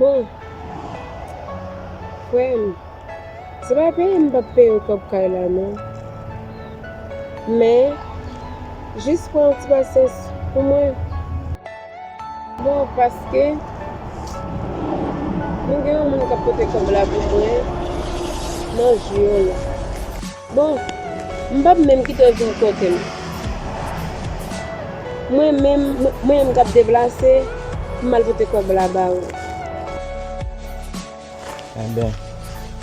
Bon Frèm Se pa peye m pap peye w kòb kay la non Men Jis pran yon ti pasyans pou mwen Bon Paske Mwen gen yon moun kap pote kòb la pou mwen Nan jou yo la. Bon, m pap menm kite w vin kote m. Mwen menm, mwen menm k ap deplase, m al pote kòb la ba ou. Enben,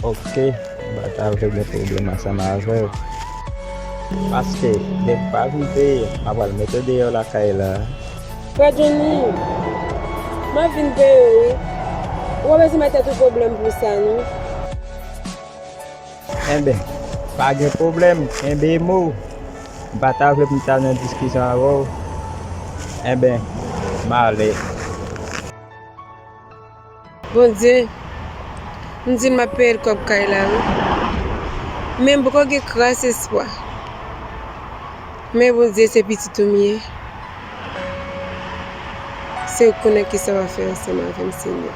oke, m pa ta vle gen pwoblèm ansanm avè w. Paske, lè m pa vin peye, m apral mete w deyò lakay la a. Frè Joni, m ap vin peye w wi. Ou pa bezwen bay tèt ou pwoblèm pou sa non. Enben, pa gen pwoblèm, kenbe mo. M pa ta vle pou m ta nan diskisyon avè w. Enben, m ale. Bondye, m di l m ap peye l kòb kay la wi. Men m poko gen kras espwa. Men Bondye, se pitit ou m ye. Se ou k konnen kisa w ap fè ansanm avè m, Senyè.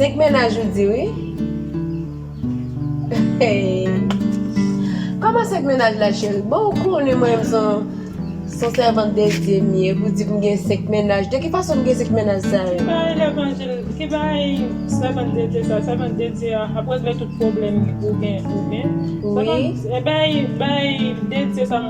5 mennaj ou di wi Koman 5 mennaj la cheri Bon ou konnen mwen menm son sèvant de Dye m ye pou di m gen 5 mennaj De ki fason m gen 5 mennaj sa yo Ki bagay sèvant de Dye sa Sèvant de Dye a ap regle tout pwoblèm ou gen Bay de Dye sa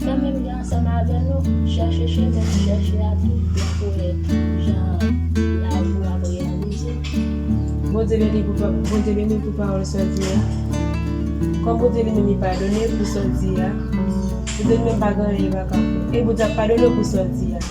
Fè menm jan ansanm avè nou, chèche chemen nou chèche a tou prè pou wè jan lavi w ap reyalize. Bondye beni pou pa Bondye beni pou pawòl sòl di a kòm Bondye li menm li padone pou sòl di a Bondye li menm pa gen anyen li paka fè e Bondye ap padone pou sòl di a.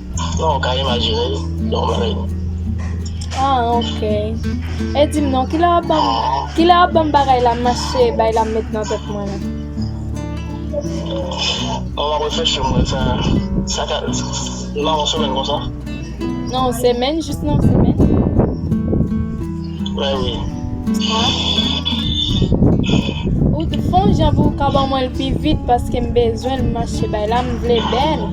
Non ou ka imajinel non mwen menm. Ah ok. E dim non kilè wap banm kilè wap banm bagay la mache bay la met nan tèt mwen la. Bon map reflechi mwen sa sa ka nan yon semèn konsa. Nan yon semèn jis nan yon semèn. Mè wi. Ou fon jan pou ou ka ban mwenl pi vit paskem bezwenl mache bay la mvle bèl.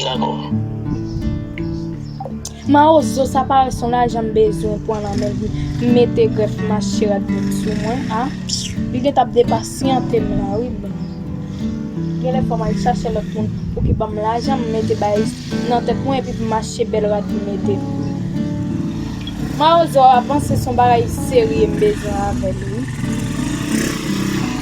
Dakò. Mawozo sa parèt son lajan m bezwen pwan nan men li m mete grèf mache rad mwen sou mwen a li gentan ap depasyante m la wi men genlè fò m al chache lòt moun pou ki banm lajan m mete bay nan tèt mwen epi pou mache bèl rad m mete. Mawozo avanse son bagay serye m bezwen avèl wi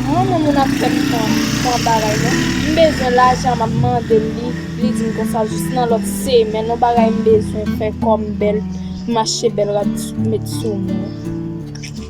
m renmen moun ap fèm pran bagay non m bezwen lajan map mandel li li dim konsa jis nan lòt semèn on bagay m bezwen fè kòm bèl pou m achte bèl rad met sou mwen.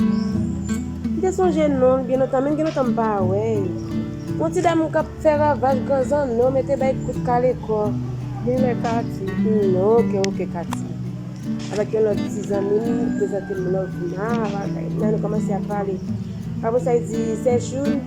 M te sonje non, gen lontan menm gen lontan m pa wè yo. Yon ti damou kap fè ravaj gran zanno mete bay kout kale kò. Gen lè Katy. Humm ok ok Katy avèk yon lòt ti zanmi m prezante m Lovina, la nou kòmanse ap pale. Apresa li di Sèchoun.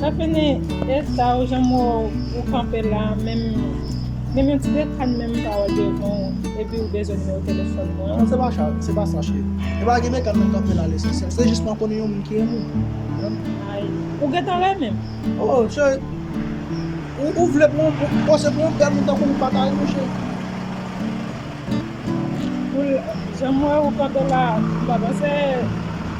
Tafini esa ou janm wè ou kanpe la menm menm yon ti dekàn menm m pa wè devan ou epi ou bezwen nimewo telefòn mwen an. Non se pa sa cheri. E pa gen dekàn menm kanpe la lesansyèl se jis mwen konnen yon moun ki renmen m. Ay ou gentan renmen m? Oh cheri ou vle pou ou panse pou yon bèl moun tankou m ou pa ta renmen m cheri. Janm wè ou kanpe la m pa panse.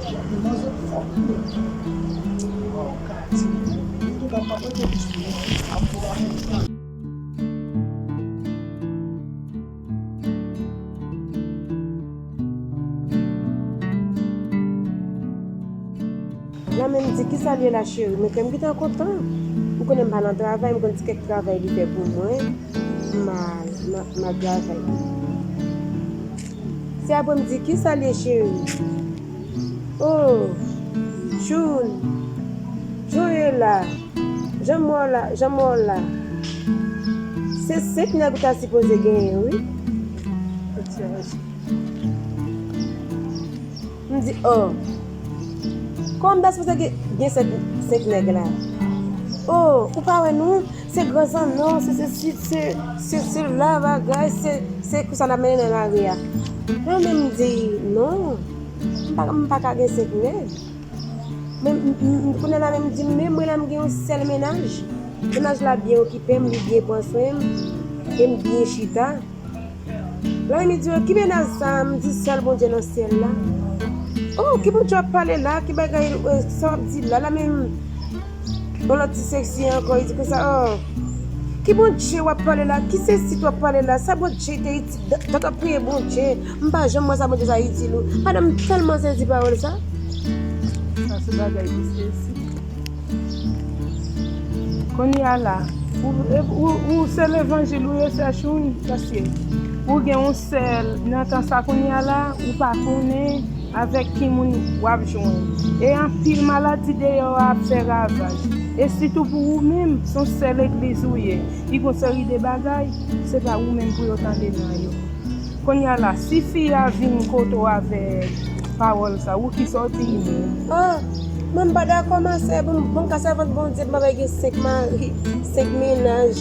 Jan de manzè fòk ui menm. Waw Katie ou tou ka pap rete plis non mwen fè sam pou lanmou ou. Lan menm di kisa liye la cheri men kèm gentan kontan ou konnen mpa nan travay mkonn ti kèk travay li fè pou mwen ma travay. Se apre m di kisa l ye cheri. Oh June jan w ye la jan m wè w la jan m wè w la Se 5 nèg ou ta sipoze genyen wi. M di oh Kòm das pase gen 5 nèg la Oh ou pa wè nou se gran zanno se sesi se sela bagay se konsa n ap mennen nan lari a Mwen menm m di non m pa ka gen 5 nèg Kounye la menm m di menm mwen la m gen yon sèl mennaj Mennaj la byen okipe m li byen pran swen m e m byen chita Lan emi di yo ki menas sa m di sèl bondye nan syèl la oh ki bondye wap pale la ki bagay sa wap di la la menm yon lòt ti seksi ankò li di konsa oh ki bondye wap pale la ki sesit wap pale la sa bondye te itil dat wap priye bondye m pa janm wè sa bondye sa itil ou madanm tèlman sezi pawòl sa. Konya la ou se levanjil ou ye sè choune paske ou gen yon sè nan tan sa konya la ou pa konnen avèk ki moun wap jwenn e anpil maladi deyò a ap fè ravaj e sitou pou ou menm son sè legliz ou ye ki gon seri de bagay se pa ou menm pou yo tande nan yo Konnya la si fi a vin kote w avè pawòl sa wou kisa w di li menm. Ahh mwen m pa dakò ma sè pou m pou m ka sèvant Bondye pou m ava gen 5 mari 5 mennaj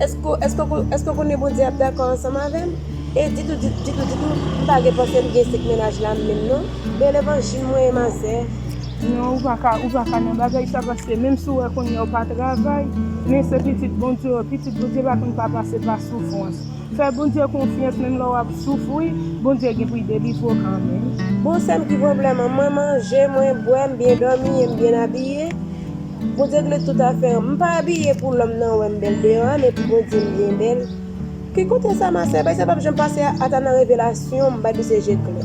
èske w èske w èske w konnen Bondye ap dakò ansanm avè m e ditou ditou ditou m pa gen panse m gen 5 mennaj la menm non bèl evanjil mwen ye ma sè. Non ou paka ou paka nan bagay sa paske menm si w wè konnya w pa travay men se pitit Bondye w ye pitit Bondye pa konn pa pase pa soufrans. Fè Bondye konfyans menm lè wap soufri Bondye gen poul delivre w kanmenm. Bon sèm ki pwoblèm an mwen manje mwen bwè m byen dòmi em byen abiye Bondye gnle tout afè m pa abiye pou lòm nan wèm bèl deyò a men pou Bondye m byen bèl ki kote sa ma sè bay sa pap janm pase ata nan revelasyon m bay misye je klè.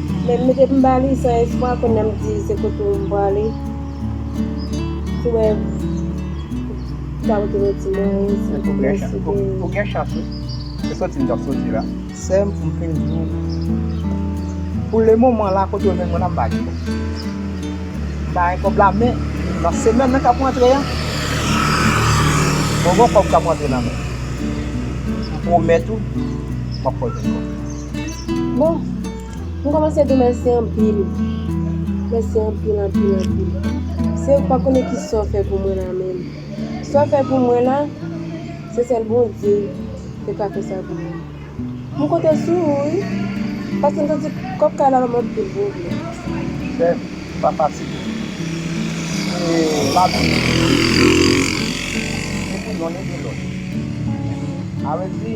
Men m mete m ba li san espwa kounye m di se kote ou m prale si wè m ta pote yon ti mwayen si pou mwen si te. Ou gen chans wi. Se soti m t ap soti la. Sè m pou m fin di w pou le moman la kote ou jwenn mwen la m pa gen kòb. M pa gen kòb la men nan semèn nan k ap rantre a mwen gen yon kòb k ap rantre nan men m. M pwomèt ou m ap fè w jwenn kòb. Bon, m kòmanse di mèsi anpil. Mèsi anpil, anpil, anpil. Se ou k pa konnen ki sa w fè pou mwen la menm. Sa w fè pou mwen la, se sèl Bondye ki ka fè sa pou mwen. M konte sou ou wi, paske m santi kòb kay la ban m anpil pwoblèm. Chèf, se pa fasil non. Se lavi moun ki pi difisil. Ni pou yonn ni pou lòt. Alèkzi.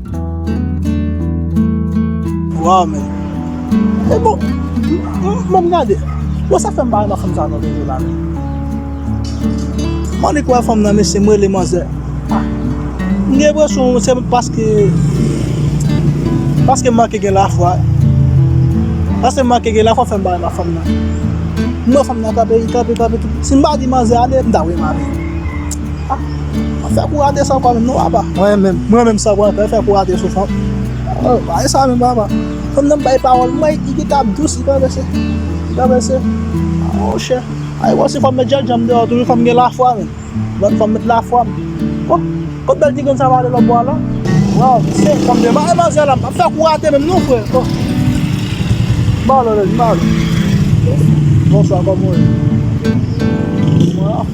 Waw men e bon banm gade bon sa fèm pa renmen fanm sa nan vre la menm m'en nik wè fanm nan mesye m'rele manzè ah m'gen enpresyon se paske paske m'manke gen lafwa paske m'manke gen lafwa fèm pa renmen fanm nan m'wè fanm nan kanpe li kanpe kanpe si m'pa di manzè ale m'ta wè mare. Mwen fè kou rate san kòm non papa. Mwen menm, mwen menm san kòm fè fè kou rate sou fanm. Oh, pa e sa menm papa. Fanm nan bay pawòl mwen, li gen tap dous, li pa vese. Li pa vese. Oh, chè. Ay wò si fanm met jèl janm deyò toujou fanm gen lafwa menm. Lòt fanm met lafwa. Oh, kot bèl ti grenn sa pale lòt bò a la? Waw, se fanm de ma e manzè la, pa fè kou rate menm non frè. Oh. Malo, malo. Bonswa, kòman ou ye?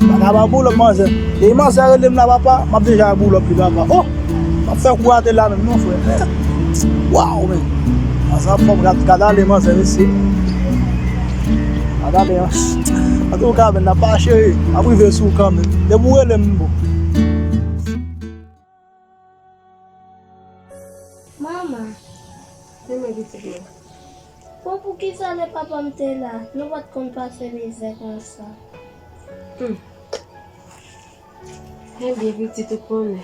Paka ba boulòp manzè. Depi manzè relem la papa, map deja ak boulòp li papa. Oh! Map fè kou atè la menm non frè. Waww men. Manzè ap fòm gad gad ale manzè mesye. Gad ale an. Ato ou kaben la pa chere. Map rive sou ou kanmenm. Depi ou relem m bon. Mama, Li men pitit mwen. Bon poukisa lè papa m te la nou pat konn pase mizè konsa. Hum. Ebyen pitit ou konnen.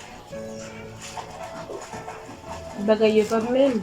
Bagay yo pap menm.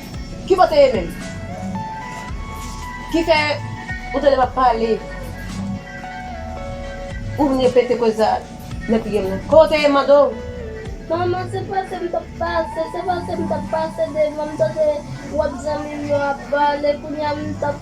Ki bò te ye menm? Ki fè ou tande map pale ou vin repete koze sa nan figem nan? Kote ou te ye mande w? Manman se pase m tap pase, se pase m tap pase devan m tande wòt zanmi m yo ap pale kounya m tap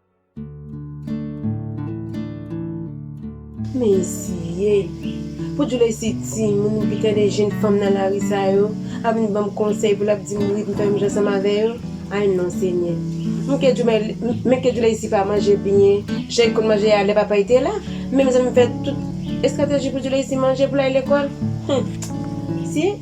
Mezye! Pou di w lè se timoun ou bi tande jenn fanm nan lari sa yo ap vin ban m konsèy pou l ap di m ritm fè menm jan ansanm avè yo, ay non senyè! Men kè di w men, men kè di w lè isi pa manje byen jan yo konn manje a lè papa yo te la, men mezanmi m fè tout estrateji pou di w lè isi manje pou l al lekòl, hum! Mezye!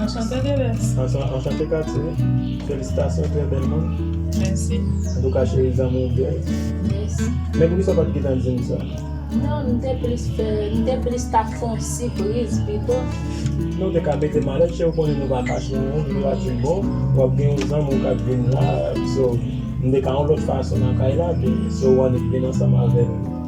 Anchante Thérèse. Anchante Katie. Felisitasyon trè bèl moun. Mèsi. Antouka cheri zanmi w byen. Mèsi. Men poukisa w pat gentan di m sa? Non m te plis fè m te plis ta fon sipriz pito. Non w te ka mete malèt cheri w konnen nou pa fache non m te ka di w bon wap gen yon zanmi w kap vin la so m te ka yon lòt fason nan kay la ke so w annik vin ansanm avè l.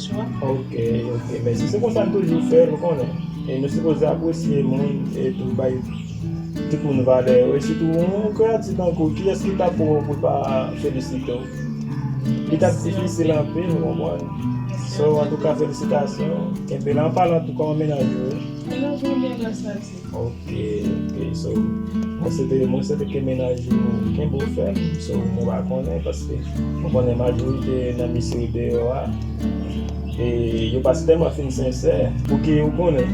Ok ok mesi se konsa nou toujou fe nou konnen e nou sipoze apresye moun e tou bay tout moun vale yo e sitou yon kreyati tankou kiyes ki tap wè w pou l pa felisite w li tap difisil anpil ou konprann so antouka felisitasyon kenbe la anpalan tou kòman mennaj ou ye. Mennaj mwen byen gras a Dye. Ok ok so mwen swete mwen swete ke mennaj ou kenbe w fèm so mwen pa konnen paske mwen konnen majorite nan mesye yo deyò a e yo pa tèlman fin sensè pouki ou konnen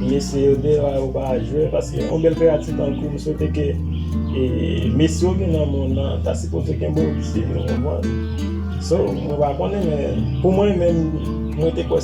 mesye yo deyò a yo pa jwe paske yon bèl kreyati tankou mwen swete ke e mesye yo gen nan monn nan ta sipoze kenbe w pye ou konprann so mwen pa konnen men pou mwen menm mwen te kwè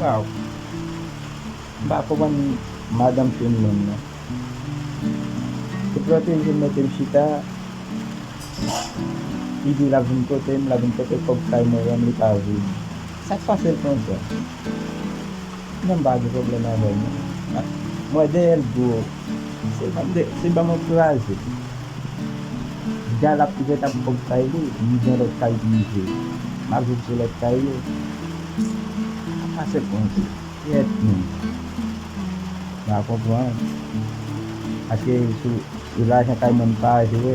Waww m pa konprann madanm fim nan non se protejem metem chita li di lap vin potem lap vin pote kob kay mwen menm li pa vle sak pasel konsa non m pa gen problèm avèl non mwen deyèl bro se banm ankouraje. Gal ap trèt ap fòk bay li li gen lòt kay pou li jwe map viv sou lòt kay yo map pase konje kyèt moun pa konprann paske sou lajan kay moun pa jwe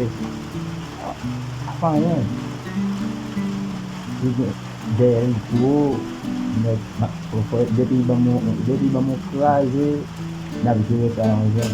ap anyen li gen dèyè l gwo nèt depi li banm yon kraze nap jere sa yon jan.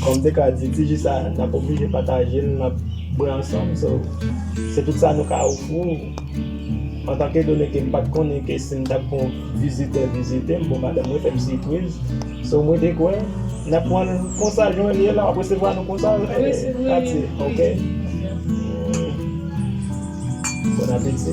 Kòm m te ka di ti ji sa n ap oblije pataje l n ap bwè ansanm so se tout sa nou ka ofri w antanke done ke m pa t konnen ke si m t ap gen yon vizitè vizite m bon madanm mwen fè m sipriz so mwen te kwè n ap pran l konsa jan l ye la w ap resevwa nou konsa Katie ok Bon apeti.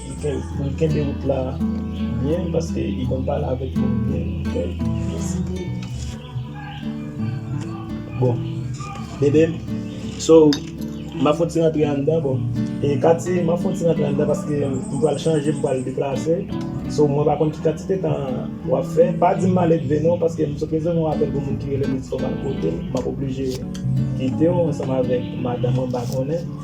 Poul kenbe wout la byen paske li konn pale avèk moun byen bon bebem so map fon ti rantre anndan bon e kati map fon ti rantre anndan paske m pral chanje m pral deplase so mwen pa konn ki kantite tan wap fè pa dim male dve non paske m sot resevwa yon apèl pou moun ki relem li di fòk mal kotel map oblije kitew ansanm avèk madanm mwen m pa konnen.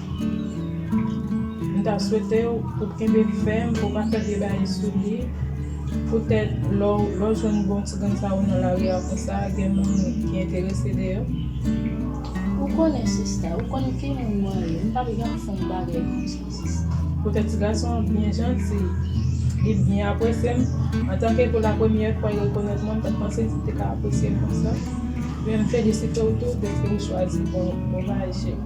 M ta swete w pou w kenbe l fèm, pou w pa fè vye baye sou li. Poutèt lè w jwenn bon ti grenn sa yo nan lari a konsa, gen moun ki enterese de yo. Ou konnen sista, ou konn ki moun mwen ye. M pap janm fè yon bagay konsa, sista. Poutèt ti gason an byen janti, li byen apresye m. Antanke pou lapremyè fwa li rekonèt mwen, m pa t panse li te ka apresye m konsa. Ebyen, m felisite w tou dèske ou chwazi bon bagay.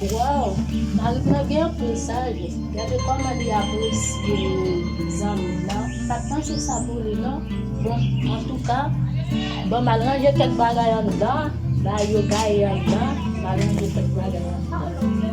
Waww marim nan gen anpil saj gade kòman li apresye zanmil nan pat panse sa pou li non bon antouka banm al ranje kèk bagay anndan bagay yo gaye anndan mal ranje kèk bagay anndan.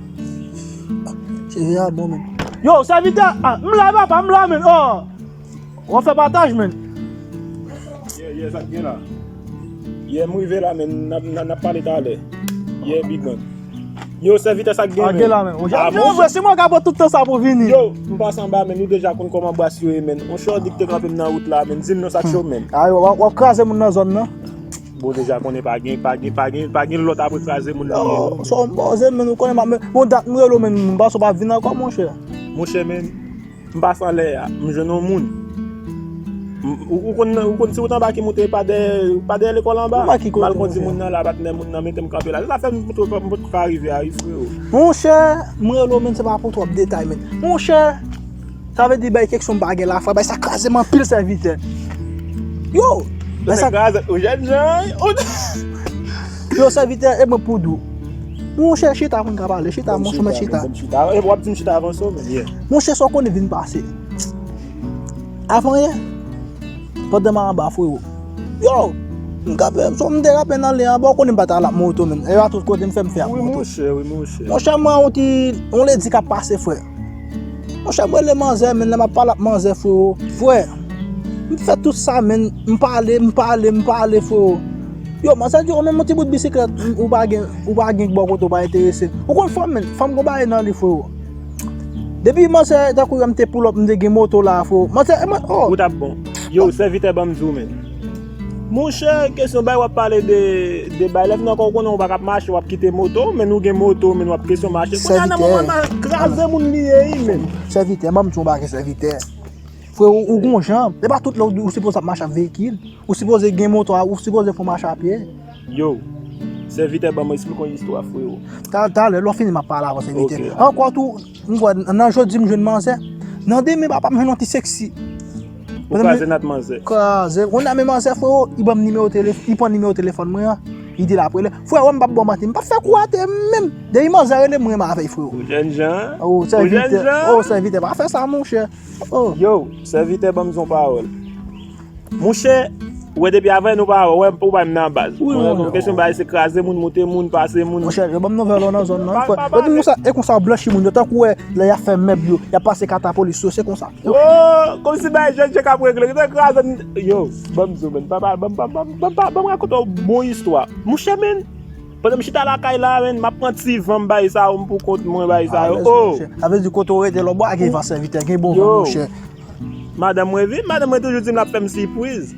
Seri a bon men. Yo, sèvitè, ah, m la papa, m la men. Oh. Wap fè pataj men. Ye, ye, sak gen la. Ye, m rive la men, nap nap pale talè. Ye, big man. Yo, sèvitè sak gen men. Gen la men. Yo, ah, bon, vre, se mwen ka pran tout tan sa pou vini. Yo, m pas anba men, nou deja konn koman bas yo ye men. On chòdi k te kanpe m nan wout la men, di m non sak cho men. Ah, wap kraze moun nan zòn nan. Bon deja konnen pa gen pa gen pa gen pa gen lòt apre kraze moun li ye non. Son pòze menn ou konnen map bon dat m rele w menn m panse w pap vin ankò monchè. Monchè menn m pase anlè a m jwenn yon moun ou konn ou konn si ou t anba ki moute pa dèyè pa dèyè lekòl anba m al kondi moun nan la bat nè moun nan mete m kanpe la se sa fè m tou m potko ka rive a wi freo. Monchè m rele w menn se pa pou twòp detay menn monchè. Sa vle di bay kèk som pa gen lafwa, bay sa kraze m anpil sèvitè. Yo! Bay sa kraze ou jèn jan. Yo sèvitè e mwen poud ou. Monchè chita moun ka pale, chita monchè mèt chita. E wap di m chita avan som e. Monchè sa w konnen vin pase. Avan yè, pandan m anba frero. Yo! M ka fè, som m te apen ale anba, ou konnen m pa ta la moto menm. E a tout kote m fè m fè a moto. Monchè mwen yon ti, yon ledi ka pase frè. Monchè m rele manzè men lè map pale ak manzè freo. Frè, m fè tout sa men m pale, m pale, m pale freo. Yo, manzè di yo men yon ti bout bisiklèt ou pa gen, ou pa gen bò kote ou pa enterese. Ou konn fanm men, fanm gen yon bagay nan li freo. Depi manzè tankou wè m te poulòp m te gen moto la freo. Manzè, e mwen, oh! Ou tap bon. Yo, sèvitè banm di w men. Monchè kesyon bay wap pale de bay lèf nan kòw konnen ou pa kap mache wap kite moto men nou gen moto men wap kesyon mache kounya nan moman nan kraze moun li ye wi menn. Sèvitè banm diw yon bagay sèvitè freo ou gon jan se pa tout lè ou sipoze ap mache ak veyikil ou sipoze gen moto a ou sipoze fon mache a pye. Yo Sèvitè banm esplike yon istwa freo. Talè lè wap fini map pale avèw sèvitè ankò tou. M kwè nan jodi m jwenn manzè. Nan demen papa m jwenn yon ti sexy. Ou kraze nat manzè. Kraze. Ou konn sa men manzè freo, li banm nimewo telefòn, li pran nimewo telefòn mwen an, li di lap rele. Freo m pap baw manti, m pap fè kou atè menm. Depi manzè rele m renmen avè l freo. Ou jèn jan an. Ou jèn jan an. Ou sèvitè, ou sèvitè pa fè sa monchè. Yow, sèvitè banm zon pawòl. Mouche Ou wè depi avè nou pa wè ou bay m nan baz Ou wè konn kesyon bay se kraze moun moute moun pase moun Mouche yo ban m nouvèl ou nan zòn nan E konsa yo blanchi moun yo tankou wè lè yap fè mèb yo yap pase kata polis yo se konsa Ooh konsi bagay jèn jè kap regle Yo te kraze m yo ban m di w menn pa pale ban m rakonte w bon istwa Mouche menn pandan m chita lakay la menn map pran ti van m bay sa yo m pou kont mwen bay sa yo ooh Sa vle di kote w rete la ou pa gen van sèvitè gen bon van mouche Madanm mwen vin, madanm mwen toujou di m l ap fè m sipriz.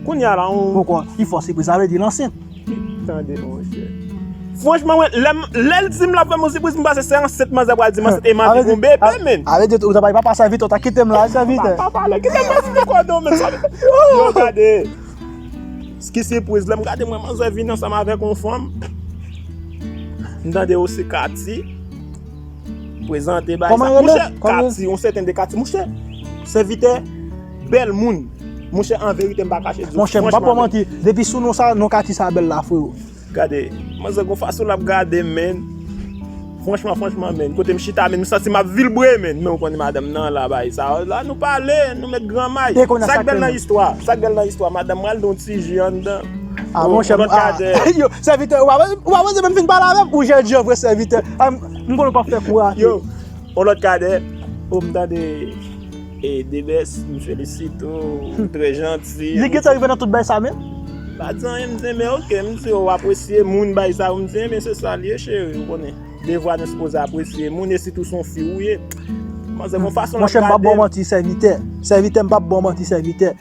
Kounye a la on. Poko pi fò sipriz, sa vle di l ansent. Tande monchè. Franchman mwen, lè m, lè l di m l ap fè m yon sipriz, m panse se ansent manzè a pral di m ansent e m anvi gon bebe menn. A vle di ou ta pale papa sèvitè, ou ta kite m la sèvitè. Pa pale, kite m nan ti kòdon menm sa. Yo gade. Ki sipriz, lè m gade m wè manzè vin ansanm avèk on fanm. M tande ou se Katy. Prezante bay sa. Mouche Kati, on sèten de Kati. Mouche, sèvitè, bèl moun. Mouche, an verite m pa kache di ou. Mouche, m pa pou ou manti. Depi sou non sa, non Kati sa bèl la freo. Gade, manzè gon fason l ap gade m menn. Franchman, franchman menn. Kote m chita menn, m santi m ap vilbre menn. Men ou konnen madanm nan la bay sa. La nou pale, nou met gran may. Sa k bèl nan istwa, sa k bèl nan istwa. Madanm m al don ti ji anndan. A mouche, m pa. Sèvitè, ou pa wè, ou pa wè se menm fin pale avèm, ou jènjan vre sèvitè, an, m konnen w pap fè kou rate. Yo, on lòt kadè, o m tande e Debès, m felisite ou, ou trè janti. Li gentan rive nan tout bay sa menm? M pa di anyen, m di men ok, m di ou apresye moun bay sa yo, m di men se sa l ye cheri, ou konnen, devwa nou sipoze apresye moun e sitou se yon fi ou ye. Manzè gon fason l ap gade m. Monchè m pap ba w manti sèvitè, sèvitè m pap ba w manti sèvitè.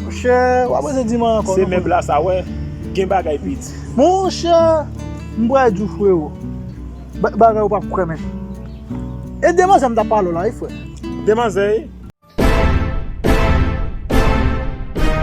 Monchè wap rete di man ankò. Se mèb la sa wè gen bagay pi di. Monchè m pral diw frero bagay ou pap kwè menm. E demanzè m tap pale w la wi frè. Demanzè e?